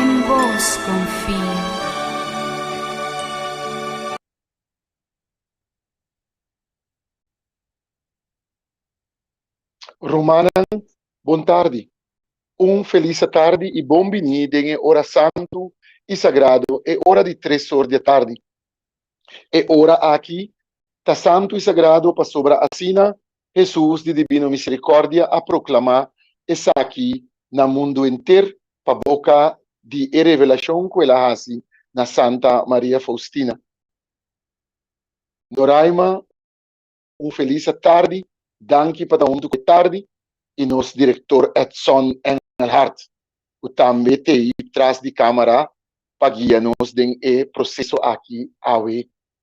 En bos confio. Rumannan, bon tardi. Un felisa tardi i bon biní den e ora santu i sagrado, e ora di tres or di atardi. E ora aki ta santu i sagrado pasobra asina Hesus di Dibino Miserikòrdia a proklamá esaki na mundu henter pa boka di e revelashon ku el a hasi na Santa Maria Faustina. Noraima, un felis atardi, danki pa ta huntu ku e tardi i nos direktor Edson Engelhardt ku tambe t'ei tras di kámara pa guia nos den e proseso aki awe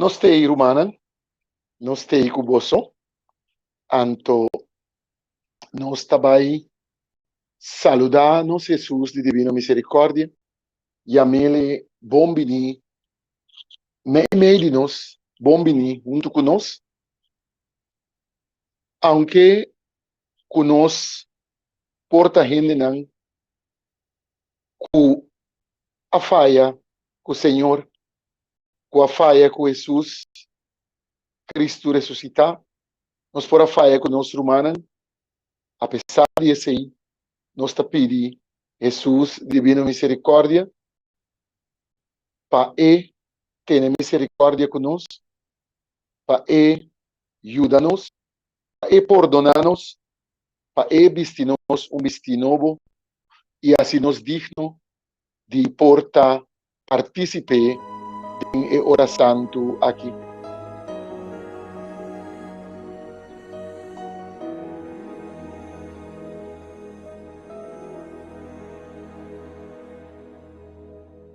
No stay rumannan no stay ku boso anto nos ta bai saluda nos Hesus di divino miserikordia yamele bon bini na e mei di nos bon bini huntu ku nos aunke ku nos por ta hendenan ku a faya ku Señor, ku a faya ku Hesus Kristu resusitá. Nos por a faya ku nos rumannan. Apesar di esei, nos ta pidi Hesus Divino Miserikòrdia pa e tene miserikòrdia ku nos, pa e yuda nos. pa E pordona nos, pa E bisti nos un bistí nobo i hasi nos digno di por ta partísip'é den e ora santu akí.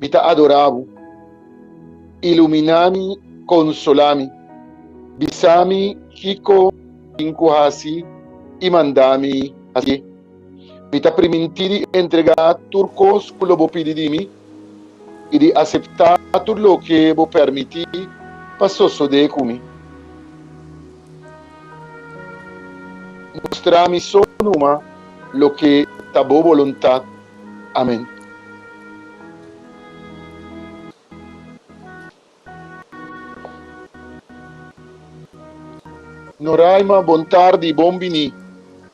Mi ta adorá Bo. Iluminá mi, konsolá mi. Bisá mi kiko tin ku hasi i mandá mi hasié. Mi ta primintí di entregá tur kos ku lo bo pidi di mi i di aseptá tur loke bo permití pa sosodé ku mi. Mustrá mi so numa loke ta bo boluntat. Amen. Noraima bon tardi bon bini.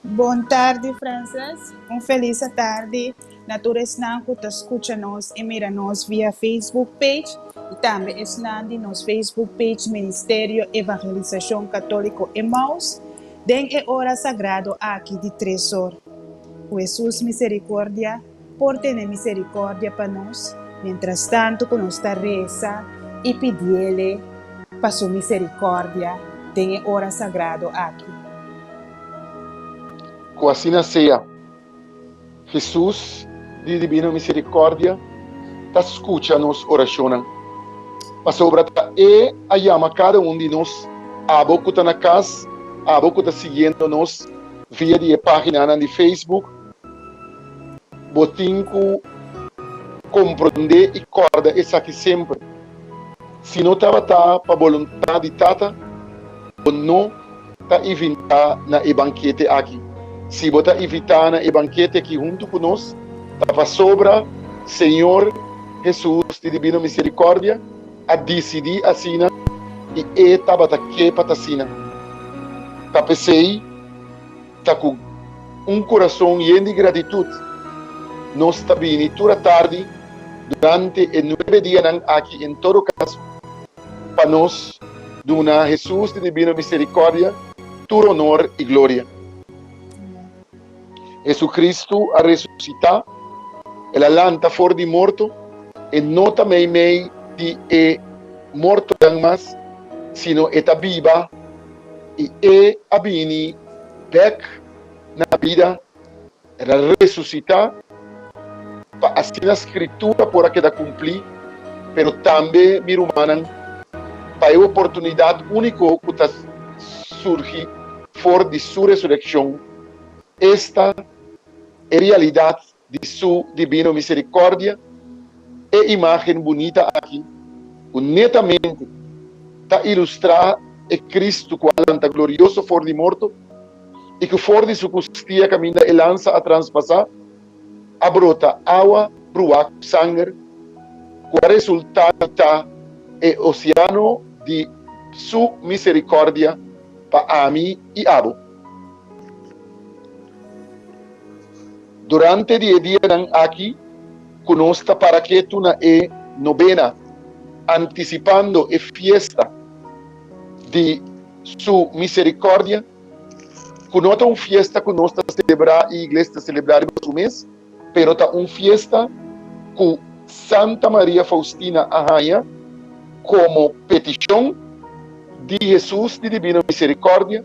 Bon tardi Frances. Un felis atardi na tur esnan cu ta scucha nos y mira nos via Facebook page y tambe esnan di nos Facebook page Ministerio Evangelisacion Catolico Emmaus den e ora sagrado aki di tres or. Cu Hesus misericordia por tene misericordia pa nos mientras tanto cu nos ta reza y pidiele pa su misericordia den e ora sagrado aki. Cu asina sea, Hesus di Divino Misericordia ta scucha nos oracionnan, pasobra ta E a yama cada un di nos, abo cu ta na cas, abo cu ta siguiendo nos, via di e paginanan di Facebook, bo tin ku komprondé i kòrda esaki semper, Si no tabata pa boluntat di Tata, bo no ta ivintá na e bankete aki. Si bo ta ivitá na e bankete aki huntu ku nos, ta pasobra Señor Hesus di Dibino Miserikòrdia, a disidí asina i e tabata ke pa ta asina. Ta p'esei, ta ku un kurason yen di gratitut nos ta bini tur a tardi durante e nuebe dianan aki en todo kaso pa nos duna Hesus di dibino miserikòrdia tur onor i gloria. Jesucristo a resuscita, El a lanta for di morto, E no ta meimei di e mortonan mas, sino E ta biba, y E a bini bek na bida, El a resuscita, pa asina Scritura por a keda cumpli, pero tambe, mi rumannan, pa e oportunidad unico cu ta surgi for di Su resureccion. Esta e realidat di Su dibino misericordia, e imagen bunita aki cu netamente ta ilustra e Cristo cu a lanta glorioso for di morto y cu for di Su custia caminda e lansa a transpasa, a brota awa brua cu sanger cu a resulta di ta e oceano di Su misericordia pa ami y abo. Durante di e dianan aki ku nos ta para ketu na e Nobena, antisipando e fiesta di Su Miserikòrdia, ku no ta un fiesta ku nos ta selebrá i iglesia ta selebrá riba su mes, pero ta un fiesta ku Santa Maria Faustina a haña komo petishon di Hesus di Dibino Miserikòrdia,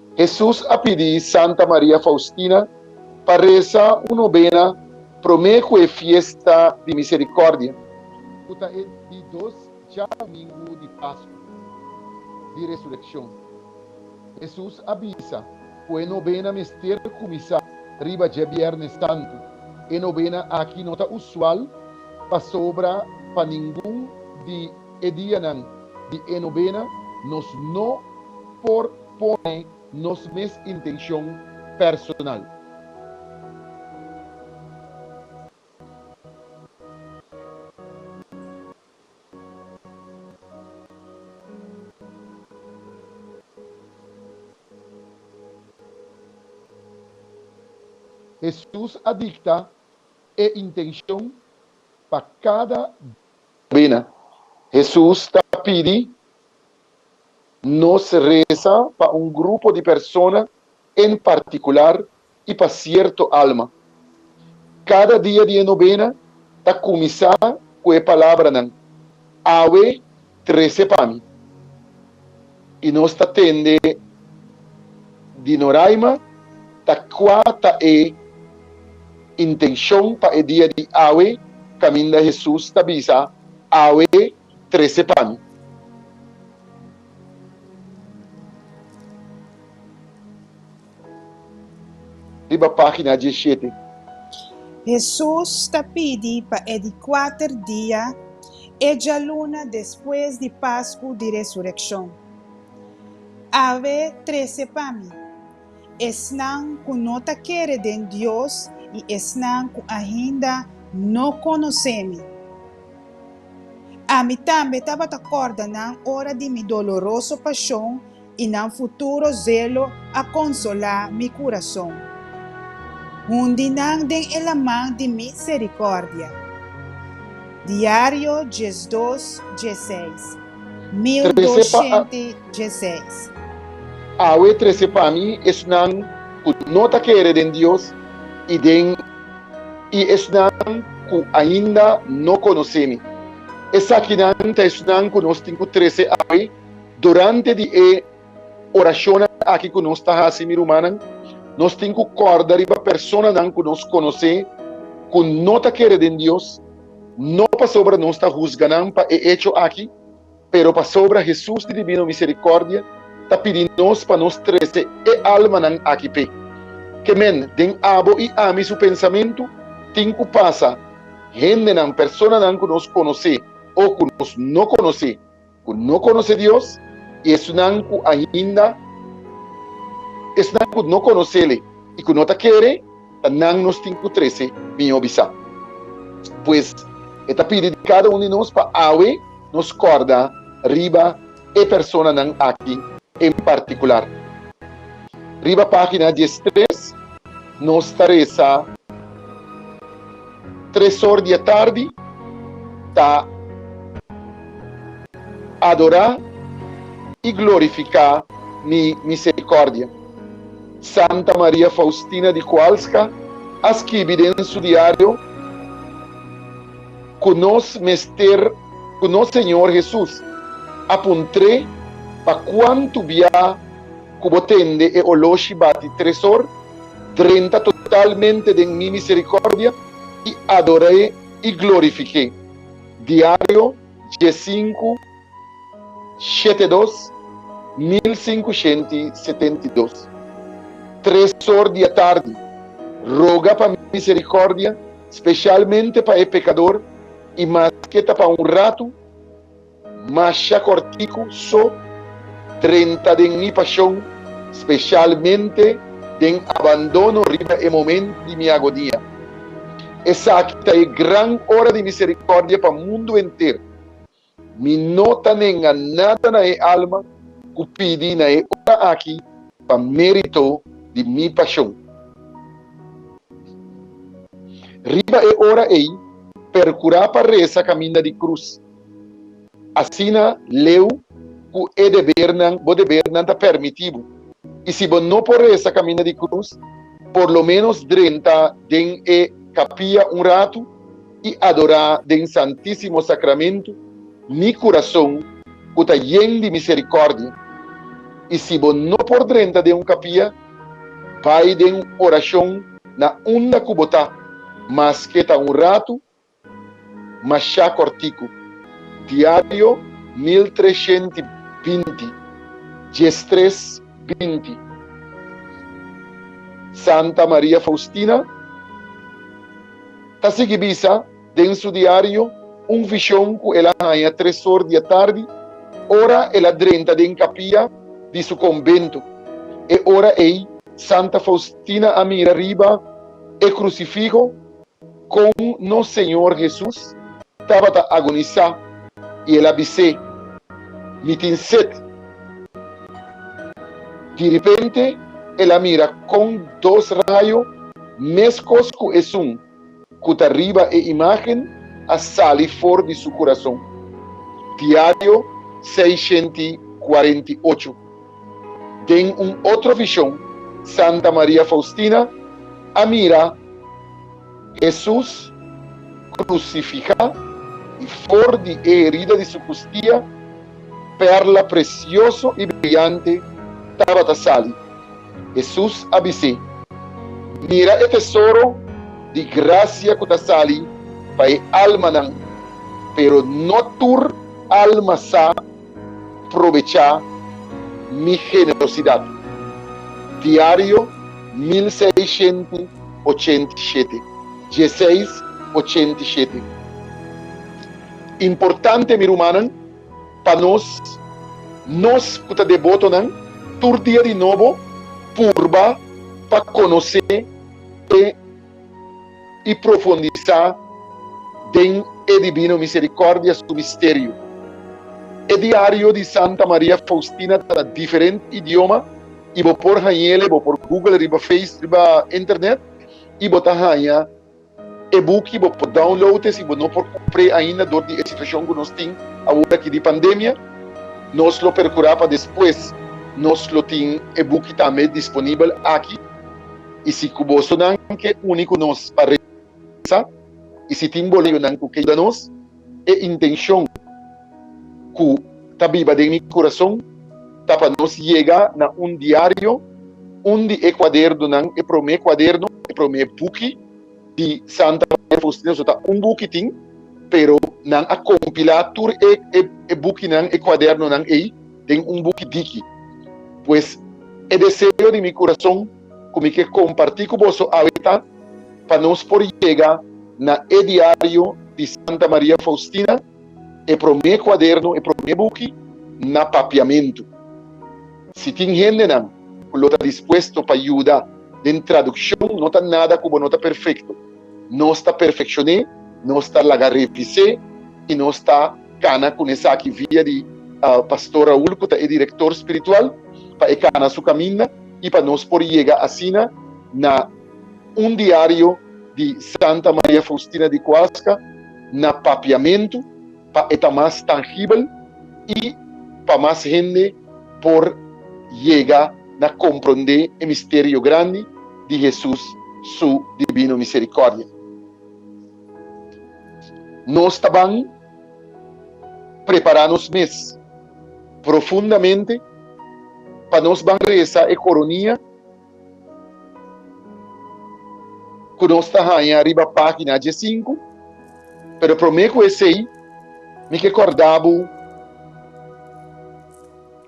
Hesus a pidi Santa Maria Faustina pa resa un nobena promé ku e fiesta di Miserikòrdia, ku ta e di dos djadomingu di Paskua di Resurekshon. Hesus a bisa ku e nobena mester kuminsá riba dje Bièrnè Santu. E nobena aki no ta usual pasobra pa ningun di e dianan di e nobena nos no por pone nos mes intenshon personal. Hesus a dikta e intenshon pa kada. Bina. Hesus ta pidi Nos resa pa un grupo di persona en partikular i pa sierto alma. Kada dia di e nobena ta kuminsá ku e palabranan, Awe trese pa mi. I nos ta tende di Noraima ta kua ta e intenshon pa e dia di awe kaminda Hesus ta bisa, Awe trese pa mi. Riba página dieshete. Hesus ta pidi pa e di kuater dia e djaluna despues di Pasku di Resurekshon. Awe trese pa mi. Esnan ku no ta kere den Dios i esnan ku ainda no konosé mi. Ami tambe tabata kòrda nan ora di mi doloroso pashon i nan futuro zelo a konsolá mi kurason. Hundi nan den e laman di miserikòrdia. Diario, Djesdos, Djeseis. 1216. Awe trese pa mi esnan ku no ta kere den Dios i den i esnan ku ainda no konosé mi. Esakinan ta esnan ku nos tin ku trese awe durante di e orashonnan aki ku nos ta hasi, mi rumannan. Nos tin ku kòrda riba personanan ku nos konosé ku no ta kere den Dios. no pasobra nos ta husga nan pa e echo aki, pero pasobra Hesus di divino miserikòrdia ta pidi nos pa nos trese e almanan aki p'e. Ke men den abo i ami su pensamentu tin ku pasa, hendenan, personanan ku nos konosé o ku nos no konosé, ku no konosé Dios i esunnan ku ainda esnan ku no konosele i ku no ta kere, ta nan nos tin ku trese mió bisá. Pues, e ta pidi di kada un di nos pa awe nos kòrda riba e personanan aki en partikular. Riba página dies tres nos ta resa. tres or di e tardi ta adorá i glorifiká Mi Miserikòrdia. Santa Maria Faustina di Kowalska a skibi den su diario ku nos mester ku nos Señor Hesus a puntr'é pa kuantu bia, ku bo tende e oló shibá di tresor, drenta totalmente den mi miserikòrdia i ador'é i glorifik'é. Diario, dje sinku, shete dos, mil sinkushenta i setenta i dos. Tresor di atardi, roga pa miserikòrdia speshalmente pa e pekador i maske ta pa un ratu, Masha kortiku so, trenta den mi pashon, speshalmente den abandono riba e momento di mi agonia. Esaki ta e gran ora di misericordia pa mundo enter. Mi no ta nenga nada na e alma cu pidi na e ora aki pa merito di mi pashon. Riba e ora ey percura pa reza caminda di cruz. Asina leu ku e debernan, bo debernan ta permití bo. I si bo no por resa kaminda di krus, por lo ménos drenta den e kapia un ratu i adorá den Santísimo Sakramentu mi kurason ku ta yen di miserikòrdia. I si bo no por drenta den un kapia, bai den orashon na unda ku bo ta, maske ta un ratu Mashá kòrtiku, Diario mil treshent i binti, djes tres binti Santa Maria Faustina ta sigui bisa den su diario un vishon ku el a haña tres or di atardi ora el a drenta den kapia di su kombentu. E ora ei Santa Faustina a mira riba e krusifiho Kon nos Señor Hesus tabata agonisá i el a bis'é, Mi tin set. Direpente el a mira kon dos rayo, meskos ku esun ku ta riba e imágen, a sali for di su kurason. Diario seishenti kuarenta i ocho. Den un otro vision, Santa Maria Faustina a mira Hesus crucifica y for di e herida di su custia perla precioso y brillante tabata sali. Hesus a bis'é, Mira e tesoro di gracia cu ta sali pa e almanan, pero no tur alma sa. probechá mi generosidat. Diario mil seishenti ochenta i shete, dieseis ochenta i shete Importante, mi rumannan, pa nos, nos ku ta debotonan, tur dia di nobo purba pa konosé e. i profundisá den e dibino miserikòrdia su misterio. E diario di Santa Maria Faustina ta na diferent idioma i bo por hañ'el, bo por google riba face, riba internet, i bo ta haña e buki, bo por download e si bo no por kumpr'é ainda dor di e situashon ku nos tin awor aki di pandemia, nos lo perkurá pa despues nos lo tin e buki tambe disponibel aki. I si ku bosonan ke uni ku nos pa resa, i si tin boleyonan ku ke yuda nos, e intenshon ku ta biba den mi kurason ta pa nos yega na un diario, un di e kuadernonan, e promé kuaderno, e promé buki di Santa Maria Faustina. So ta un buki tin, pero nan a kompilá tur e bukinan, e kuadernonan ei den un buki diki. Pues, e deseo di mi kurason. ku mi ke kompartí ku boso awe ta pa nos por yega na e diario di Santa Maria Faustina, e promé kuadernu, e promé buki na papiamentu. Si tin hendenan ku lo ta dispuesto pa yuda den tradukshon, no ta nada ku bo no ta perfekto. Nos ta perfekshoné, nos ta laga revis'é i nos ta kana kun esaki via di Pastor Raúl ku ta e direktor spiritual pa e kana su kaminda. i pa nos por yega asina na un diario di Santa Maria Faustina di Cuasca na papiamentu pa e ta mas tangibel i pa mas hende por yega na komprondé e misterio grandi di Hesus su dibino miserikordia. Nos ta ban. prepará nos mes profundamente pa nos ban resa e koronia ku nos ta haña riba página diesinku. Pero promé ku esei mi ke kòrda bo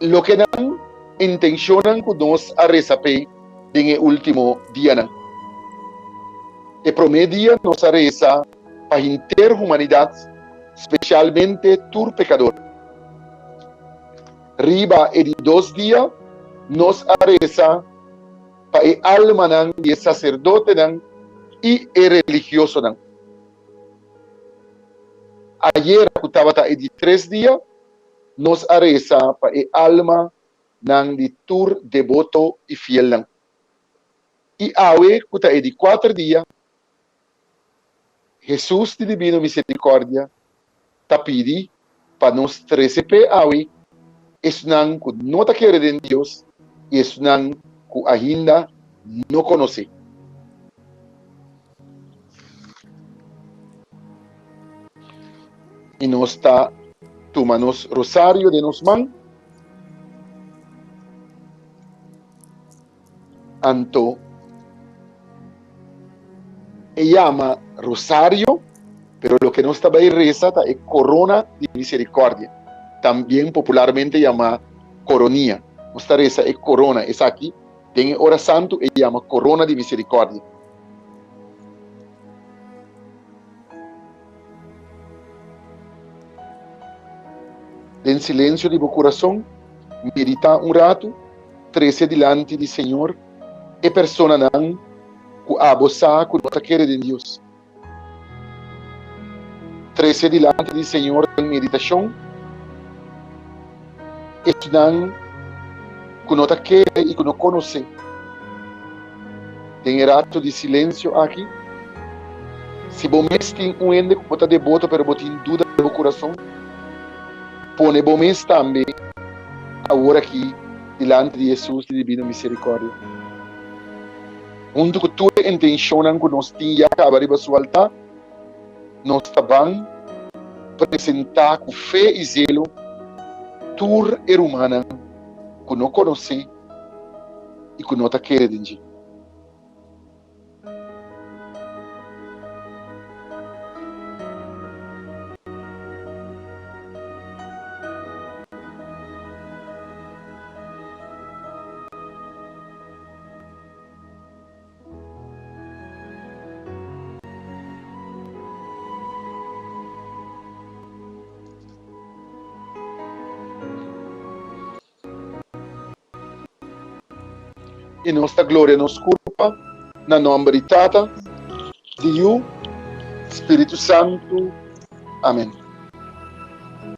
loke nan intenshonnan ku nos a resa p'e den e último dianan. E promé dia nos a resa pa henter humanidat, spesialmente tur pekador. Riba e di dos dia nos a resa pa e almanan di e saserdotenan i e religiosonan. Ayera ku tabata e di tres dia nos a resa pa e alma nan di tur deboto i fielnan. I awe ku ta e di kuater dia, Hesus di Dibino Misericordia ta pidi pa nos trese pe awe, esnan cu no ta kere den Dios y esnan cu ainda no conoce. Y nos ta tuma nos rosario den nos man. Anto e yama rosario, pero loke nos ta bai resa ta e korona di miserikòrdia, también popularmente yamá koronia. Nos ta resa e korona, esaki den e ora santu e yama korona di miserikòrdia. Den silensio di bo kurason, meditá un ratu, trese dilanti di Señor e personanan ku abo sa ku no ta kere den Dios. Trese dilanti di Señor den meditashon. esnan ku no ta kere i ku no konosé. Den e ratu di silensio aki, si bo mes tin un hende ku bo ta deboto pero bo tin duda den bo kurason, pone bo mes tambe aworakí dilanti di Hesus di dibino miserikòrdia. Huntu ku tur e intenshonnan ku nos tin ya kaba riba Su altá, Nos ta ban presentá ku fe i zelo tur e rumannan ku no konosé i ku no ta kere den dje. I nos ta gloria nos kurpa na nòmber di Tata, di Yu, Spiritu Santu. Amen.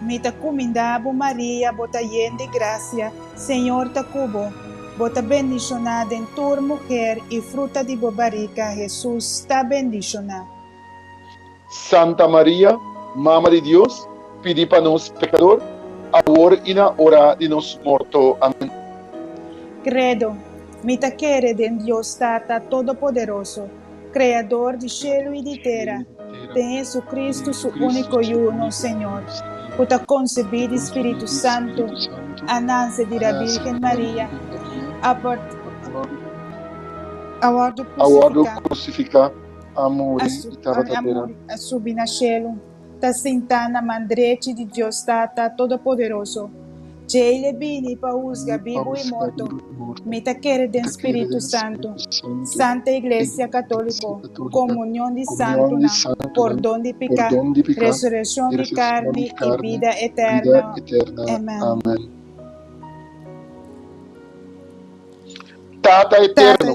Mi ta cuminda bo Maria, bo ta yen di gracia, Señor ta cu bo. Bo ta bendiciona den tur muher y fruta di bo barica, Jesús, ta bendiciona. Santa Maria, Mama di Dios, pidi pa nos pecador, awor y na ora di nos morto. Amen. Credo, Mi ta kere den Dios Tata Todopoderoso, Kreador di shelu i di tera, den Hesukristu su úniko Yu, nos Señor, ku ta konsebí di spiritu santu, a nanse di ra Bírgen Maria, a wòrdu krusifiká, a muri i tabata tera. ta sintá na man drechi di Dios Tata Todopoderoso. Djei e bini pa husga bibu i morto. Mi ta kere den spiritu santu, santa iglesia katóliko, komunion di santunan, pordon di piká, resurekshon di karni i bida eterno. Amèn. Tata eterno.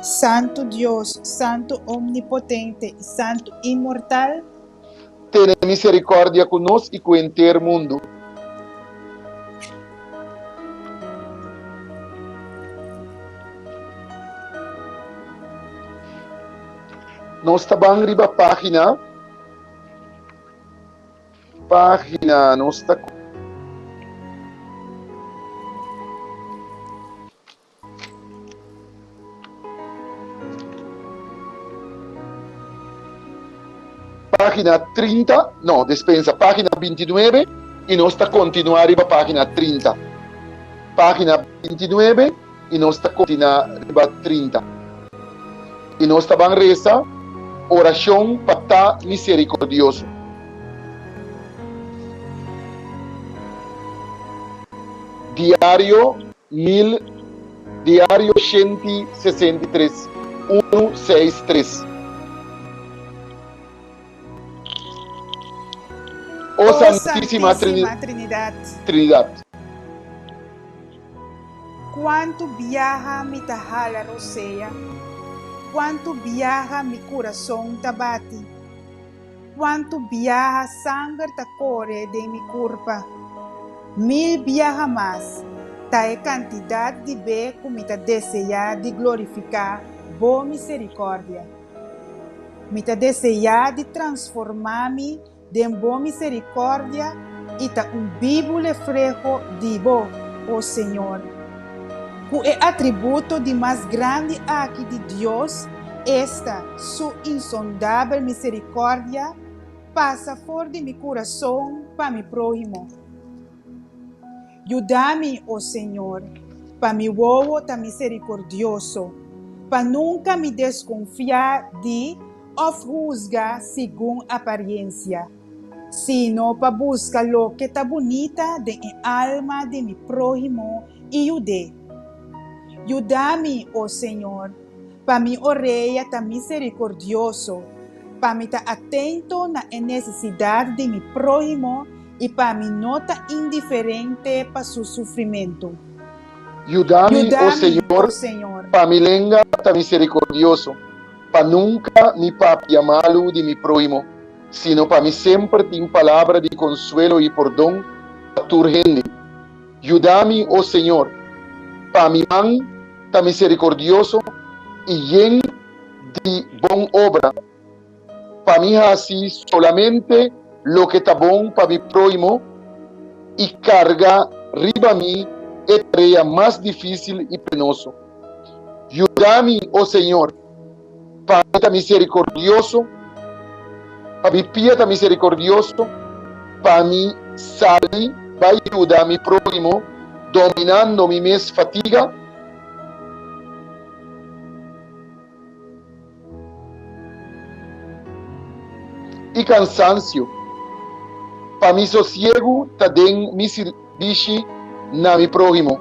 Santu Dios, Santu Omnipotente i Santu Inmortal. Tene misericordia cu nos i cu henter mundo. Nos ta ban riba pagina, pagina, nos ta. Página trinta, no, despensa, página binti nuebe i nos ta kontinuá riba página trinta. Página binti nuebe i nos ta kontinuá riba trinta. I nos ta ban resa orashon pa ta miserikordioso. Diario. Mil, Diario shenti sesenta i tres, unu, seis, tres O Santisima Trinidad. Cuantu biaha mi ta hala rosea, cuantu biaha mi curason ta bati. Cuantu biaha sanger ta core den mi curpa. Mil biaha mas ta e cantidad di be cu mi ta desea di glorifica Bo misericordia. Mi ta desea di transforma mi den Bo misericordia y ta un bibu lefreho di Bo, O Señor. Ku e atributo di mas grandi aki di Dios esta, Su insondabel miserikòrdia, pasa for di mi kurason pa mi próhimo. Yuda mi, o Señor, pa mi wowo ta miserikordioso, pa nunka mi deskonfiá di òf husga segun apariensia. sino pa buska loke ta bunita den e alma di mi próhimo i yud'é. Yuda mi, o Señor, pa mi orea ta miserikordioso, pa mi ta atento na e nesesidat di mi próhimo i pa mi no ta indiferente pa su sufrimentu. Yuda mi, o Señor, pa mi lenga ta miserikordioso, pa nunka mi papia malu di mi próhimo. sino pa mi semper tin palabra di konsuelo i pordon pa tur hende. Yuda mi, o Señor, pa mi man ta miserikordioso i yen di bon obra, pa mi hasi solamente loke ta bon pa mi próhimo i karga riba mi e tarea mas difísil i penoso. Yuda mi, o Señor. Pai ta miserikordioso, pabia pia ta miserikordioso pa mi sali bai yuda mi próhimo dominando mi mes fatiga? i kansansio, pa mi sosiegu ta den mi sirbishi na mi próhimo?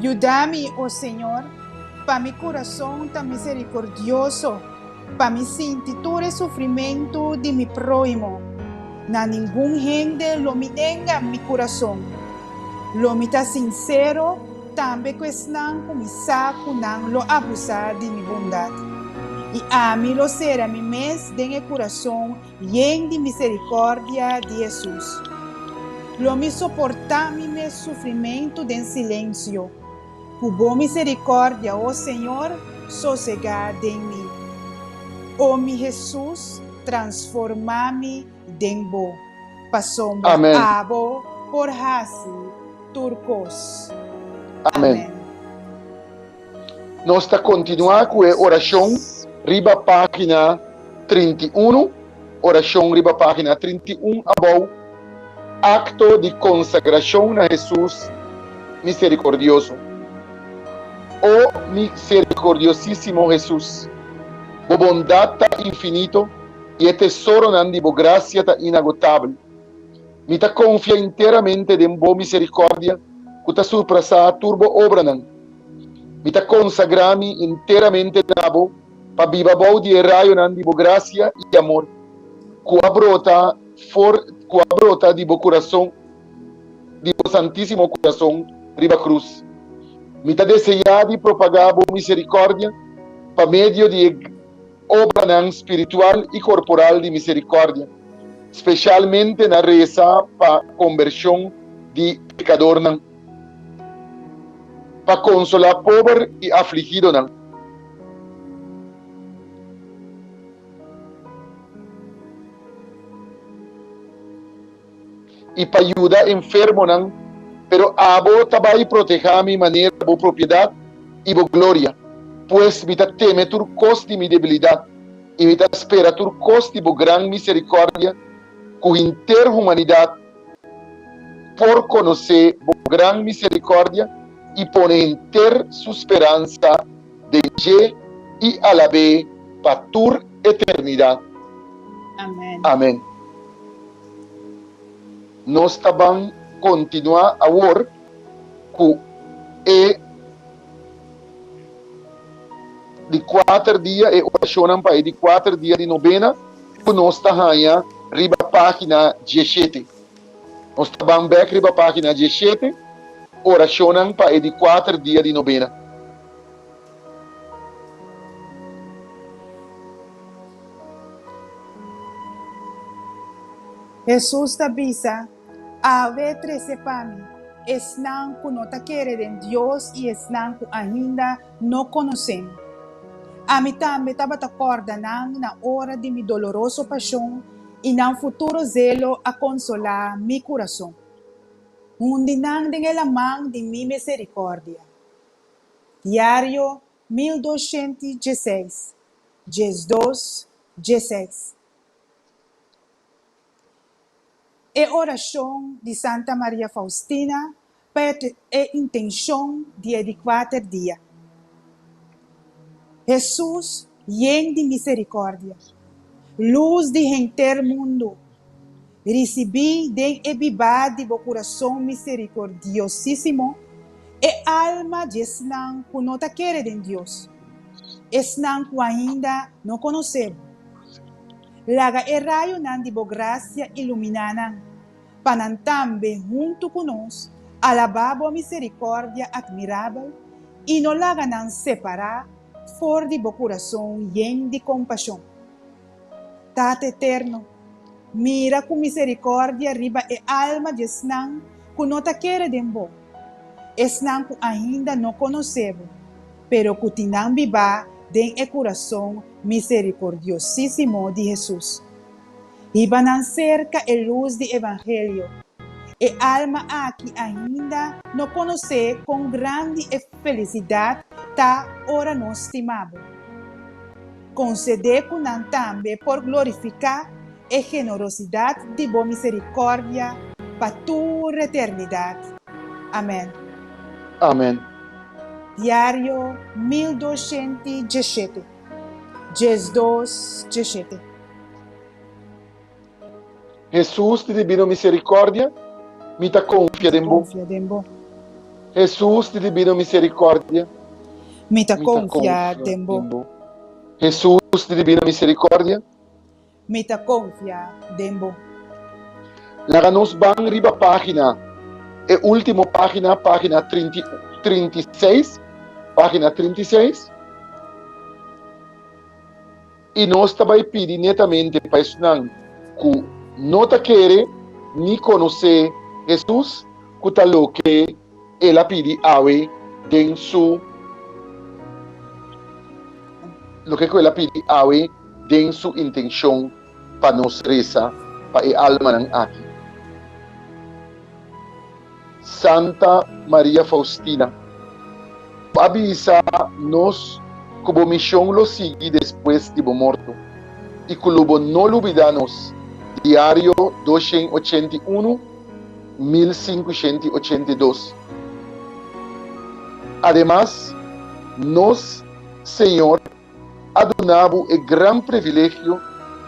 Yuda mi, o Señor, pa mi kurason ta miserikordioso, pa mi sinti tur e sufrimentu di mi próhimo. Na ningun hende lo mi nenga mi kurason. Lo mi ta sinsero tambe ku esnan ku mi sa ku nan lo abusá di mi bondat. I ami lo sera mi mes den e kurason Yen di misericordia di Hesus. Lo mi soporta mi mes sufrimentu den silencio. Cu bo misericordia, o Señor, sosega den mi. O mi Hesus, transforma mi den bo, pasobra Amen. abo por haci tur cos. Amen. Amen. Nos ta kontinuá ku e orashon riba página trinta i unu, orashon riba página trinta i un abou, akto di konsagrashon na Hesus miserikordioso. O miserikordiosísimo Hesus, bo bondat ta infinito i e tesoronan di bo grasia ta inagotabel. Mi ta konfia enteramente den bo miserikòrdia ku ta surprasá tur bo obranan. Mi ta konsagrá mi enteramente na bo pa biba bou di e rayonan di bo grasia i amor ku a brota for ku a brota di bo kurason di bo santísimo kurason riba krus. Mi ta deseá di propagá bo miserikòrdia pa medio di e. obranan spiritual i korporal di miserikòrdia, spesialmente na resa pa kombershon di pekadornan, pa konsolá pober i afligidonan. i pa yuda enfermonan, pero abo ta bai protehá mi manera bo propiedat i bo gloria. Pues, mi ta teme tur kos di mi debilidat, i mi ta spera tur kos di bo gran miserikòrdia, ku henter humanidat por konosé bo gran miserikòrdia i pone henter su speransa den dje i alab'é pa tur eternidat. Amèn. Amèn. Nos ta ban kontinuá awor ku e di kuater dia, e orashonnan pa e di kuater dia di nobena ku nos ta haña riba página dieshete. Nos ta ban bèk riba página dieshete, Orashonnan pa e di kuater dia di nobena. Hesus ta bisa, Ave trese pa mi esnan ku no ta kere den Dios i esnan ku ainda no konosem. Ami tambe tabata kòrda nan na ora di mi doloroso pashon i nan futuro zelo a konsolá mi kurason. Hundi nan den e laman di mi miserikòrdia. Diario mil doscienti y dieseis, diesdos, diesseis E oracion di Santa Maria Faustina pa e e intencion di e di cuater dia. Hesus Yen di misericordia. Luz di henter mundo. Ricibi den e bibad di bo curason misericordiosisimo e alma djesnan cu no ta kere den Dios, esnan cu ainda no conoce bo. Laga e rayonan di bo gracia ilumina nan, pa nan tambe hunto cu nos alaba bo misericordia admirabel y no laga nan separa For di bo kurason yen di kompashon. Tata Eterno, mira ku miserikòrdia riba e alma di esnan ku no ta kere den bo, esnan ku ainda no konosé bo, pero ku tin nan bibá den e kurason miserikordiosísimo di Hesus. Hiba nan serka e lus di evangelio. E alma aki ainda no konosé kon grandi e felisidat ta ora nos stimabo. Konsedé ku nan tambe por glorifiká e generosidat di bo miserikòrdia pa tur eternidat. Amèn. Amèn. Diario mil doshienti djeshete. Djes dos, djes shete. Hesus di dibino miserikòrdia, mi ta konfia den bo. Konfia den bo. Hesus di dibino miserikòrdia, Mi ta mi ta konfia konfia den bo. den bo. Hesus di dibino miserikòrdia, Mi ta konfia den bo. Laga nos ban riba página, e último página, página trinta i seis, página trinta i seis, i nos ta bai pidi netamente pa esnan ku no ta kere ni konosé Hesus ku ta loke. El a pidi awe den su loke ku el a pidi awe den su intenshon pa nos resa pa e almanan aki. Santa Maria Faustina, bo a bisa nos ku bo mishon lo sigui despues di bo morto i ku lo bo no lubida nos, Diario dos shen ochenta i unu. mil sinkushenta i ochenta i dos. Ademas, nos Señor a duna bo e gran privilegio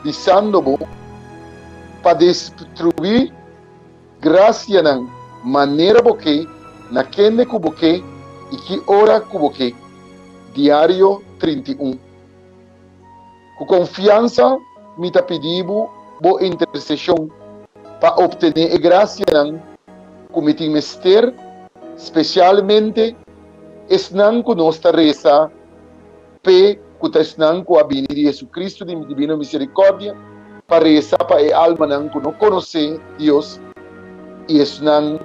di sando bo pa distribuí grasianan manera bo ke, na kende ku bo ke i ki ora ku bo ke. Diario trinta i un. Ku konfiansa mi ta pidi bo bo interseshon pa optené e grasianan ku mi tin mester, spesialmente esnan ku nos ta resa p'e, ku ta esnan ku a bini di Hesukristu di Dibino Miserikòrdia pa resa pa e almanan ku no konosé Dios i esnan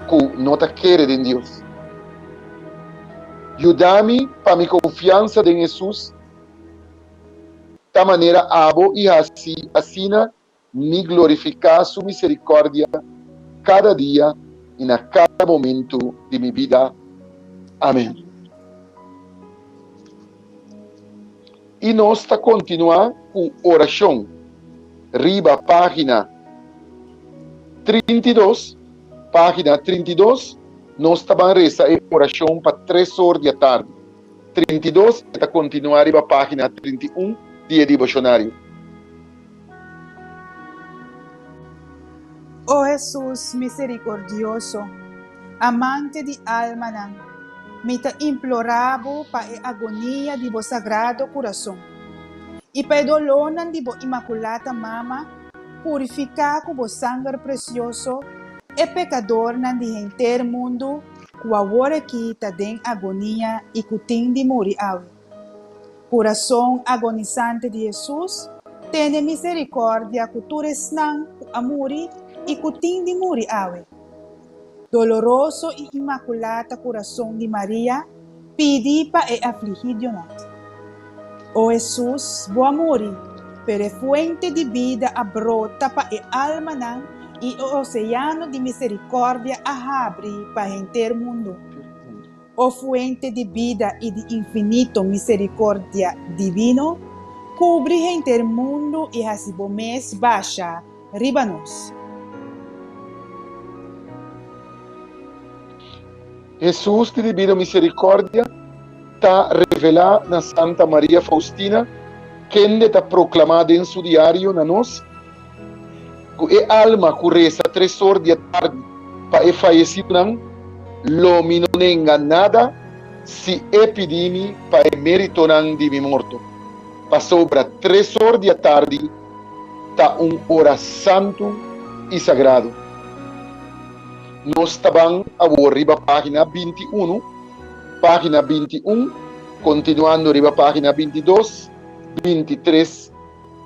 ku no ta kere den Dios. Yuda mi pa mi konfiansa den Hesus ta manera abo i hasi asina mi glorifiká su miserikòrdia kada dia i na kada momentu di mi bida. Amèn. I nos ta kontinuá ku orashon riba página trinta i dos. Página trinta i dos, nos ta ban resa e orashon pa tres or di atardi. Trinta i dos e ta kontinuá riba página trinta i un di e deboshonario. O Hesus miserikordioso, Amante di almanan, mi ta implorá Bo pa e agonia di Bo Sagrado Kurason i pa e dolónan di Bo Imakulata Mama, purifiká ku Bo sanger presioso e pekadornan di henter mundu ku aworakí ta den agonia i ku tin di muri awe. Kurason agonisante di Hesus tene miserikordia ku tur esnan ku a muri i ku tin di muri awe. Doloroso i imakulata kurason di Maria pidi pa e afligidonan, O Hesus, bo a muri, pero e fuente di bida a brota pa e almanan i e oseano di miserikordia a habri pa henter mundu. O Fuente di bida i di infinito misericordia divino, cubri henter mundo i haci bo mes basha riba nos. Hesus di divino misericordia ta revela na Santa Maria Faustina, kende ta proclama den su diario na nos. ku e alma ku resa tres or di e tardi pa e fayesidunan, lo mi no nenga nada si e pidi mi pa e meritonan di mi morto, pasobra tres or di e tardi ta un ora santu i sagradu. Nos ta ban awor riba página binti i unu, página binti i un, kontinuando riba página binti i dos, binti i tres,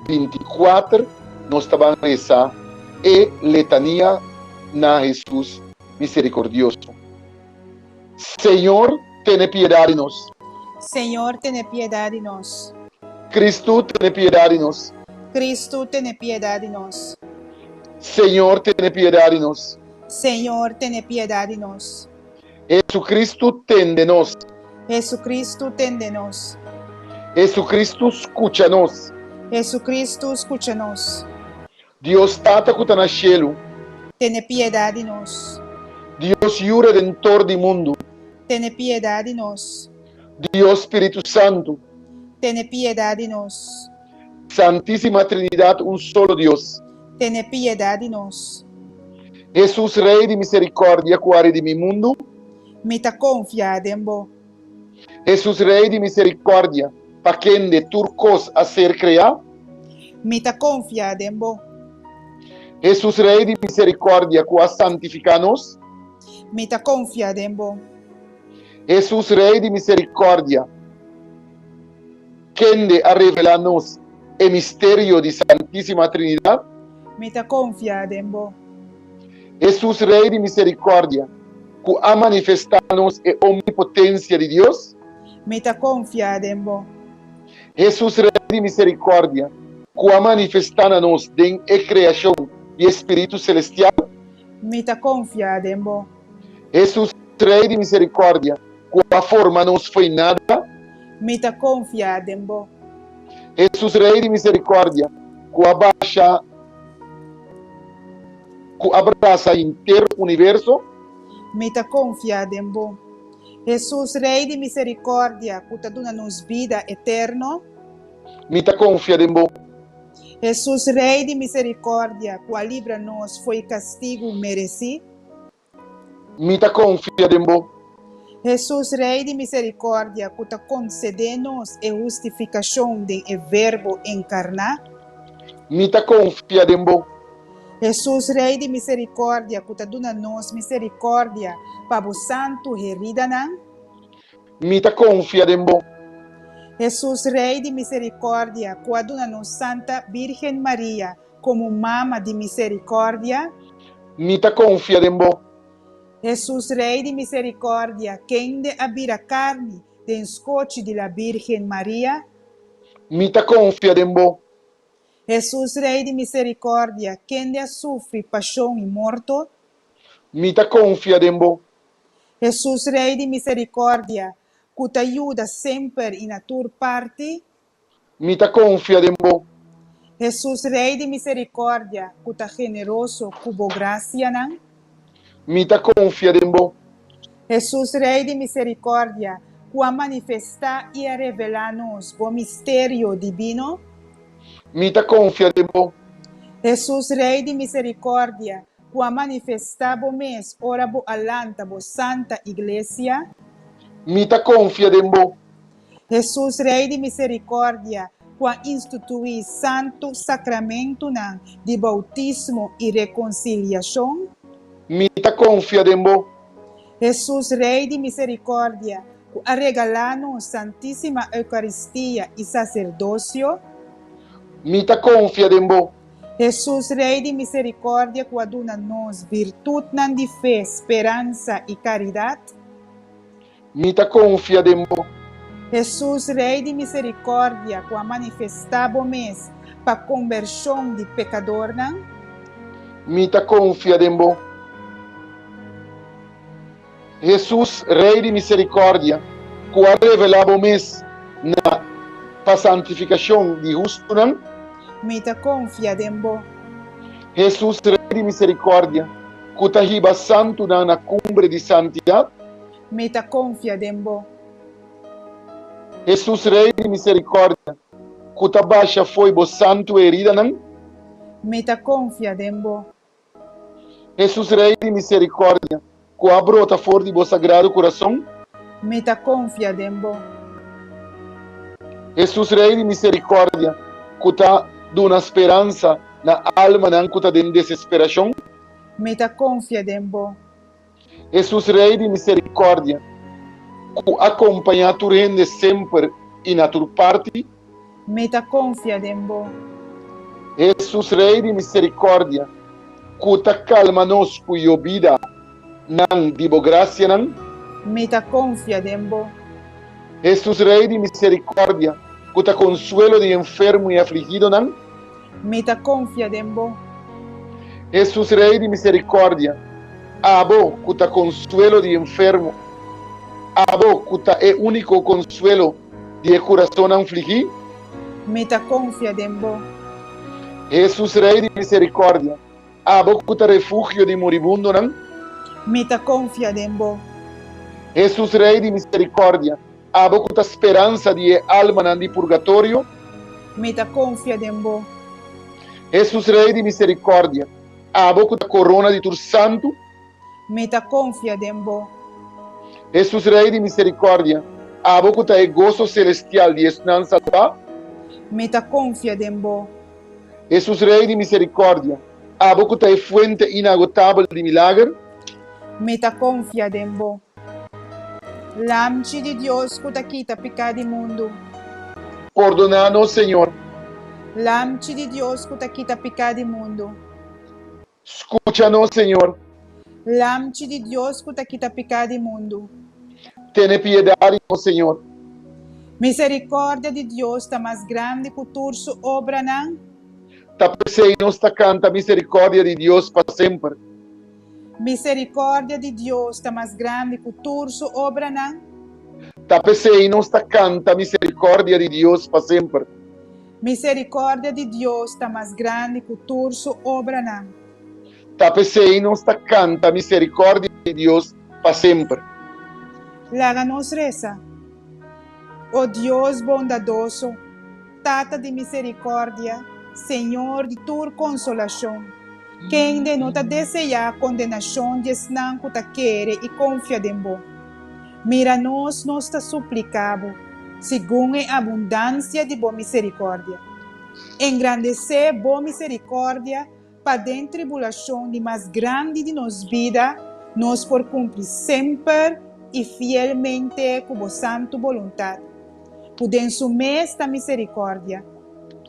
binti-kuater nos tabanan resa e letania na Hesus Miserikordioso, Señor, tene piedad di nos. Señor, tene piedad di nos. Cristo, tene piedad di nos. Cristo, tene piedad di nos. Señor, tene piedad di nos. Señor, tene piedad di nos. Hesukristu tende nos. Hesukristu tende nos. Hesukristu skucha nos. Hesukristu skucha nos. Dios Tata ku ta na shelu. Tene piedat di nos. Dios Yu Redentor di mundu. Tene piedat di nos. Dios Spiritu Santu. Tene piedat di nos. Santisima Trinidad un solo Dios. Tene piedad di nos. Hesus Rey di misericordia cu a redimi mundu. Mi ta confia den bo. Hesus Rey di misericordia pa kende tur cos a ser crea. Mi ta confia den bo. Hesus Rey di misericordia cu a santifica nos. Mi ta confia den bo. Hesus Rey di misericordia. Kende a revelá nos e misterio di Santísima Trinidat? Mi ta konfia den bo. Hesus, Rei di miserikòrdia, ku a manifestá nos e omnipotensia di Dios? Mi ta konfia den bo. Hesus, Rei di miserikòrdia, ku a manifestá na nos den e kreashon di e spiritu selestial? Mi ta konfia den bo. Hesus Rei di Miserikòrdia. Ku a forma nos foinada. Mi ta konfiá den bo. Hesus Rei di Miserikòrdia. Ku a basha. Ku a brasa henter universo. Mi ta konfiá den bo. Hesus Rei di Miserikòrdia. Ku ta duna nos bida eterno. Mi ta konfiá den bo. Hesus Rei di Miserikòrdia. Ku a libra nos fo'i kastigu meresí. mi ta konfia den bo. Hesus, Rei di miserikòrdia ku ta konsede nos e hustifikashon den e Verbo enkarná. Mi ta konfia den bo. Hesus, Rei di miserikòrdia ku ta duna nos miserikòrdia pa bo santu heridanan. Mi ta konfia den bo. Hesus, Rei di miserikòrdia ku a duna nos Santa Vírgen Maria Komo Mama di Miserikòrdia. Mi ta konfia den bo. Hesus Rei di Miserikòrdia, kende a bira karni den skochi di la Bírgen Maria. Mi ta konfia den bo. Hesus Rei di Miserikòrdia, kende a sufri pashon i morto. Mi ta konfia den bo. Hesus Rei di Miserikòrdia, ku ta yuda semper i na tur parti. mi ta konfia den bo. Hesus Rei di miserikòrdia ku ta generoso ku bo grasianan. Mi ta konfia den bo. Hesus Rei di miserikòrdia ku a manifestá i a revelá nos bo misterio dibino. Mi ta konfia den bo. Hesus Rei di miserikòrdia ku a manifestá bo mes ora bo a lanta bo santa iglesia. Mi ta konfia den bo. Hesus, Rei di Miserikòrdia, ku a instituí santu sakramentunan di boutismo i rekonsiliashon. Mi ta konfia den bo. Hesus, Rei di Miserikòrdia, ku a regalá nos Santísima Eukaristia i saserdosio. Mi ta konfia den bo. Hesus, Rei di Miserikòrdia, ku a duna nos virtutnan di fe, speransa i karidat. Mi ta konfia den bo. Hesus, Rei di miserikòrdia, ku a manifestá bo mes pa kombershon di pekadornan. Mi ta konfia den bo. Hesus, Rei di miserikòrdia, ku a revelá bo mes na pa santifikashon di hustunan. Mi ta konfia den bo. Hesus, Rei di miserikòrdia, ku ta hiba santunan na kumbre di santidat. Mi ta konfia den bo. Hesus Rei di miserikòrdia. Ku ta basha fo'i bo santu heridanan. Mi ta konfia den bo. Hesus Rei di miserikòrdia. Ku a brota for di bo sagrado kurason. Mi ta konfia den bo. Hesus Rei di miserikòrdia. Ku ta duna speransa na almanan ku ta den desesperashon. Mi ta konfia den bo. Hesus Rei di miserikòrdia, ku a kompañá tur hende semper i na tur parti. Mi ta konfia den bo. Hesus Rei di miserikòrdia, ku ta kalma nos ku yo bida nan di bo grasianan. Mi ta konfia den bo. Hesus Rei di miserikòrdia, ku ta konsuelo di enfermu i afligidonan. Mi ta konfia den bo. Hesus Rei di miserikordia, abo ku ta konsuelo di e enfermo, abo ku ta e úniko konsuelo di e kurasonnan fligí. Mi ta konfia den bo. Hesus Rei di miserikordia, abo ku ta refugio di muribundonan. Mi ta konfia den bo. Hesus Rei di miserikordia, Abo ku ta speransa di e almanan di purgatorio. Mi ta konfia den bo. Hesus Rei di miserikòrdia. Abo ku ta korona di tur santu. Mi ta konfia den bo. Hesus Rei di miserikòrdia. Abo ku ta e goso selestial di esnan salbá. Mi ta konfia den bo. Hesus Rei di miserikòrdia. Abo ku ta e fuente inagotabel di milager. Mi ta konfia den bo. Lamchi di Dios ku ta kita piká di mundu. Pordoná nos, Señor. Lamchi di Dios ku ta kita piká di mundu. Skucha nos, Señor. Lamchi di Dios ku ta kita piká di mundu. Tene piedat di nos, Señor. Miserikordia di Dios ta mas grandi ku tur su obranan. Ta pesey nos ta canta misericordia di Dios pa semper. Misericordia di Dios ta mas grandi cu tur su obranan. Ta pesey nos ta canta misericordia di Dios pa semper. Misericordia di Dios ta mas grandi cu tur su obranan. Ta pesey nos ta canta misericordia di Dios pa semper. Laga nos reza. O Dios bondadoso. Tata di misericordia, Señor di tur consolacion, kende no ta deseá condenacion di esnan cu ta kere i confia den bo. Mira nos, nos ta suplicá bo, segun e abundancia di bo misericordia. Engrandecé bo misericordia Paden tribulacion di mas grandi di nos bida, nos por cumpli semper y fielmente cu bo santu boluntad, cu den su mesta misericordia,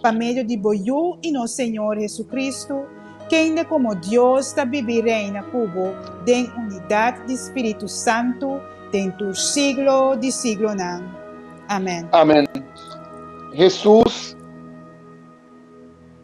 pa medio di bo Yu y nos Señor Jesucristo, kende como Dios ta bibi reina cu bo den unidad di Spiritu Santu den tur siglo di siglonan. Amen. Amen. Jesus.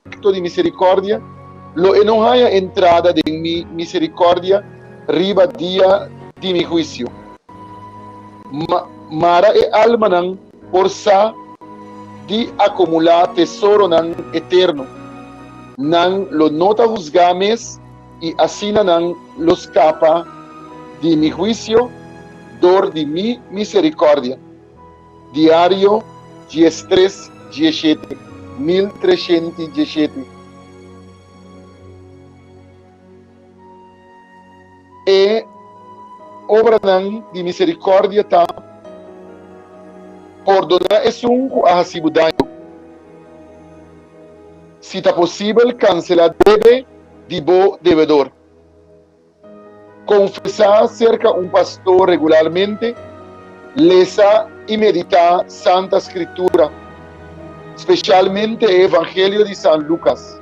Pacto di Misericordia, lo e no haya entrada den mi misericordia riba dia di mi huicio. Ma mara e almanan por sa di acumula tesoronan eterno, nan lo no ta husga mes y asina nan lo scapa di mi huicio dor di mi misericordia. Diario dies tres dieshete mil treshent i dieshete E obranan di miserikòrdia ta pordoná esun ku a hasi bo daño. Si ta posibel kanselá debe di bo debedor. Konfesá serka un pastor regularmente, lesa i meditá Santa Skritura, spesialmente e Evangelio di San Lukas.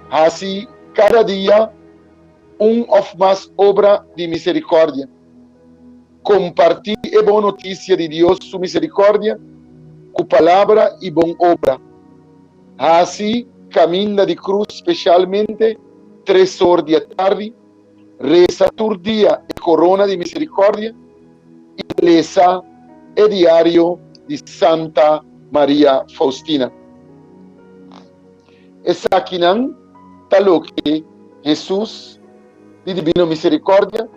Hasi kada dia un òf mas obra di miserikòrdia. Kompartí e bon notisia di Dios su miserikòrdia ku palabra i bon obra. Hasi kaminda di krus spesialmente tres or di e tardi, resa tur dia e korona di miserikordia i lesa e diario di Santa Maria Faustina. Esakinan ta loke Hesus di Dibino Miserikordia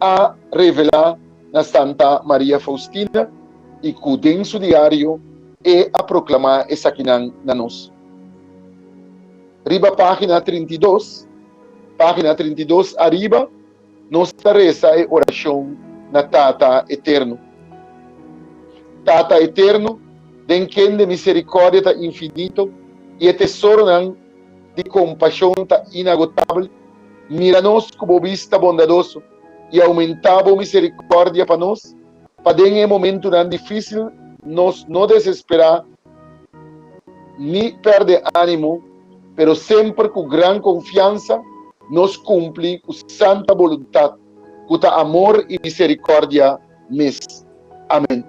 a revelá na Santa Maria Faustina i ku den su diario e a proklamá esakinan na nos. Riba página trinta i dos, página trinta i dos ariba, nos ta resa e orashon na Tata Eterno, Tata Eterno, den kende miserikòrdia ta infinito i e tesoronan di kompashon ta inagotabel, mira nos ku bo bista bondadoso, i aumentá bo miserikòrdia pa nos, pa den e momentunan difísil nos no desesperá ni pèrdè ánimo, pero semper ku gran konfiansa nos kumpli ku santa boluntat, ku ta amor i miserikòrdia mes. Amèn.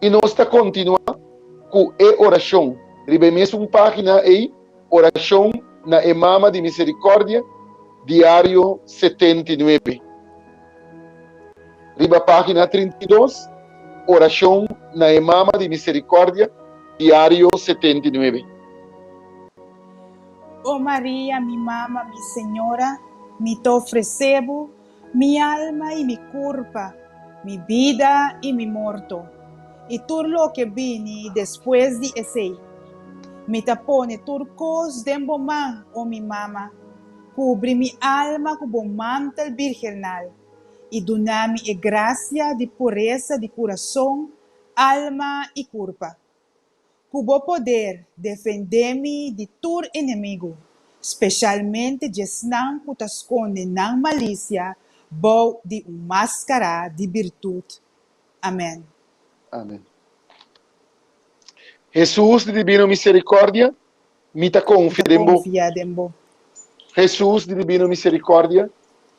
I nos ta kontinuá ku e orashon riba e mesun página ei. Orashon na e Mama di Miserikòrdia, diario setenta i nuebe, riba página trinta i dos, Orashon na e Mama di Miserikòrdia, diario setenta i nuebe. O Maria, mi Mama, mi Señora, mi ta ofresé bo Mi alma i mi kurpa, mi bida i mi morto, i tur loke bini despues di esei. Mi ta pone tur kos den bo man, o mi mama, kubri mi alma ku bo mantel birgenal, i duna mi e grasia di puresa di kurason, alma i kurpa. Ku bo poder defendé mi di tur enemigu, speshalmente djesnan ku ta skonde nan malisia bou di un máskará di birtut. Amèn. Amèn. Hesus di Dibino Miserikòrdia, Mi ta konfia den bo. Hesus di Dibino Miserikòrdia,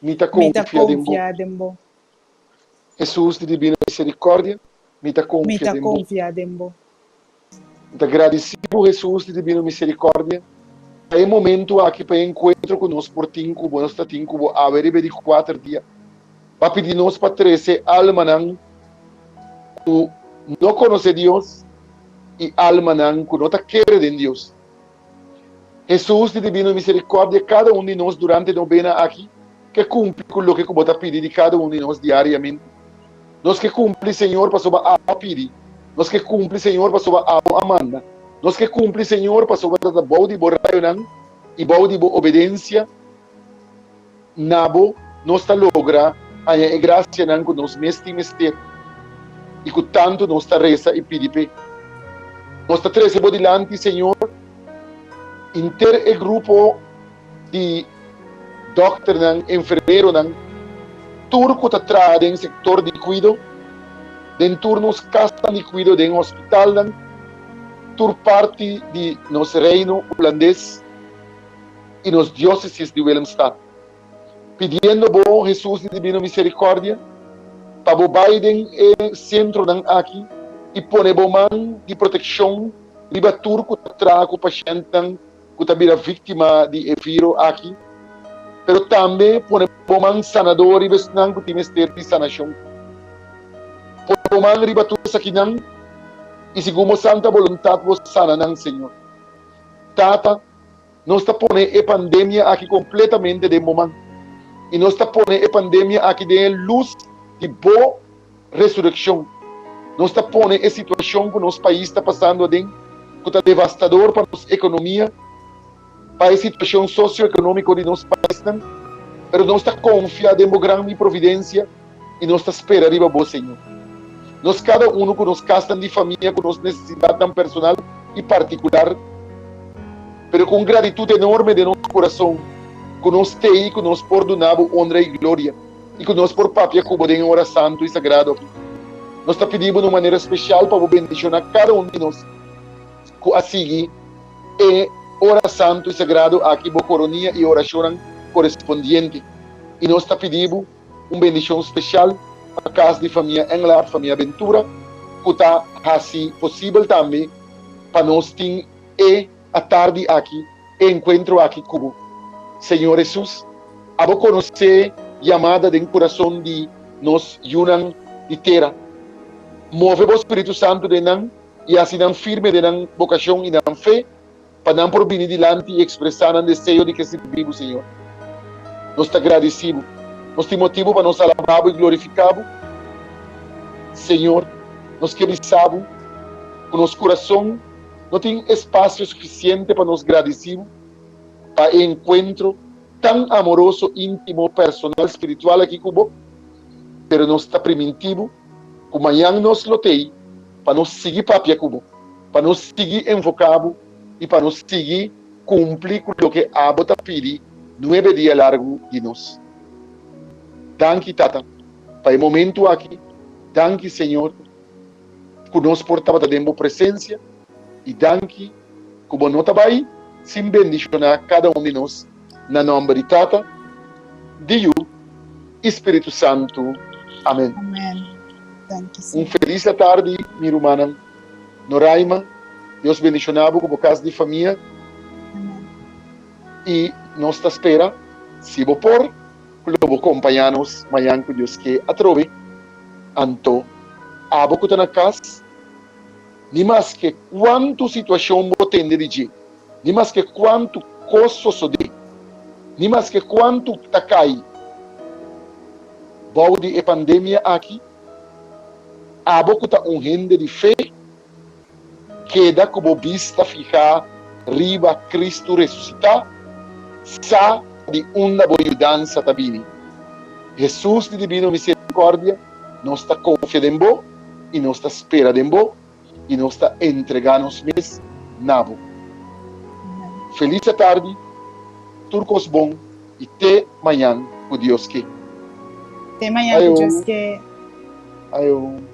mi ta konfia den bo. Hesus di Dibino Miserikòrdia, mi ta konfia den bo. Mi ta gradisí bo Hesus di Dibino Miserikòrdia pa e momentu aki, pa e enkuentro ku nos por tin ku bo, nos ta tin ku bo awe riba e di kuater dia. pa pidi nos pa trese almanan ku no konosé Dios i almanan ku no ta kere den Dios. Hesus, di Dibino Miserikòrdia kada un di nos durante no bena aki, ke kumpli ku loke ku bo ta pidi di kada un di nos diariamente. Nos ke kumpli, Señor, pasobra abo a pidi. Nos ke kumpli, Señor, pasobra abo a manda. Nos ke kumpli, Señor, pasobra ta bou di bo rayonan i bou di bo obedensia. Na bo, nos ta logra haña e grasianan ku nos mes tin mester i ku tantu nos ta resa i pidi p'e. Nos ta trese bo dilanti, señor, henter e grupo di dòkternan, enfermeronan, tur ku ta traha den sektor di kuido, den tur nos kasnan di kuido, den hospitalnan, tur parti di nos Reino Hulandes. i nos diósesis di Willemstad, pidiendo bo, Hesus di Dibino Miserikòrdia, pa bo bai den e sentronan aki i pone bo man di protekshon riba tur ku ta traha ku pashentnan ku ta bira víktima di e viro aki, pero tambe pone bo man sanadó riba esnan ku tin mester di sanashon. Pone bo man riba tur esakinan, i segun bo santa boluntat bo sana nan, Señor. Tata. Nos ta pone e pandemia aki completamente den bo man, y nos ta pone e pandemia aki den e luz di bo resurreccion. Nos ta pone e situacion cu nos pais ta pasando aden, cu ta devastador pa nos economia, pa e situacion socio-economico di nos paisnan, pero nos ta confia den bo gran providencia, i nos ta spera riba Bo, Señor. Nos kada unu ku nos kasnan di famia ku nos nesesidatnan personal i partikular, pero ku un gratitut enorme den nos kurason ku nos tei i ku nos por duna Bo onra i gloria i ku nos por papia ku Bo den e ora santu i sagrado aki. Nos ta pidi Bo na un manera spesial pa Bo bendishona kada un di nos ku a sigui e ora santu i sagrado aki Bo koronia e orashonnan korespondiente. I nos ta pidi Bo. Un bendishon speshal pa kas di famia Englard, famia Ventura ku ta hasi posibel tambe pa nos tin e atardi aki e enkuentro aki ku bo. Señor Hesus, abo konosé yamada den kurason di nos yunan di tera. Move bo Spiritu Santu den nan i hasi nan firme den nan bokashon i nan fe. Pa nan por bini dilanti i ekspresá nan deseo di ke sirbi Bo, Señor. Nos ta gradisí Bo. Nos tin motibu pa nos alabá Bo i glorifiká Bo. Señor, nos ke bisa Bo ku nos kurason no tin espasio sufisiente pa nos gradisí Bo pa e enkuentro tan amoroso, íntimo, personal, spiritual aki ku Bo. Pero nos ta primintí Bo. Ku mañan nos lo tei pa nos sigui papia ku bo, pa nos sigui envoká bo i pa nos sigui kumpli ku loke abo ta pidi nuebe dia largu di nos. Danki, Tata, pa e momentu aki. Danki, Señor, ku nos por tabata den bo presensia, i danki ku bo no ta bai sin bendishoná kada un di nos. Na nomber di Tata, di Yu i Spiritu Santu. Amen. Un felis atardi mi rumannan Noraima. Dios bendishona bo ku bo kas di famia i nos ta spera si bo por ku lo bo kompañá nos mañan ku Dios ke atrobe. Anto abo ku ta na kas, ni maske kuantu situashon bo tende di dje. ni maske kuantu kos sosodé, ni maske kuantu ta kai bou di e pandemia aki, abo ku ta un hende di fe, keda ku bo bista fihá riba Kristu resusitá, sa di unda bo yudansa ta bini. Hesus di dibino miserikòrdia, nos ta konfia den bo i nos ta spera den bo. i nos ta entregá nos mes na bo. Felis atardi, tur kos bon i te mañan ku Dios ke. Te mañan ku Dios ke. Aeon.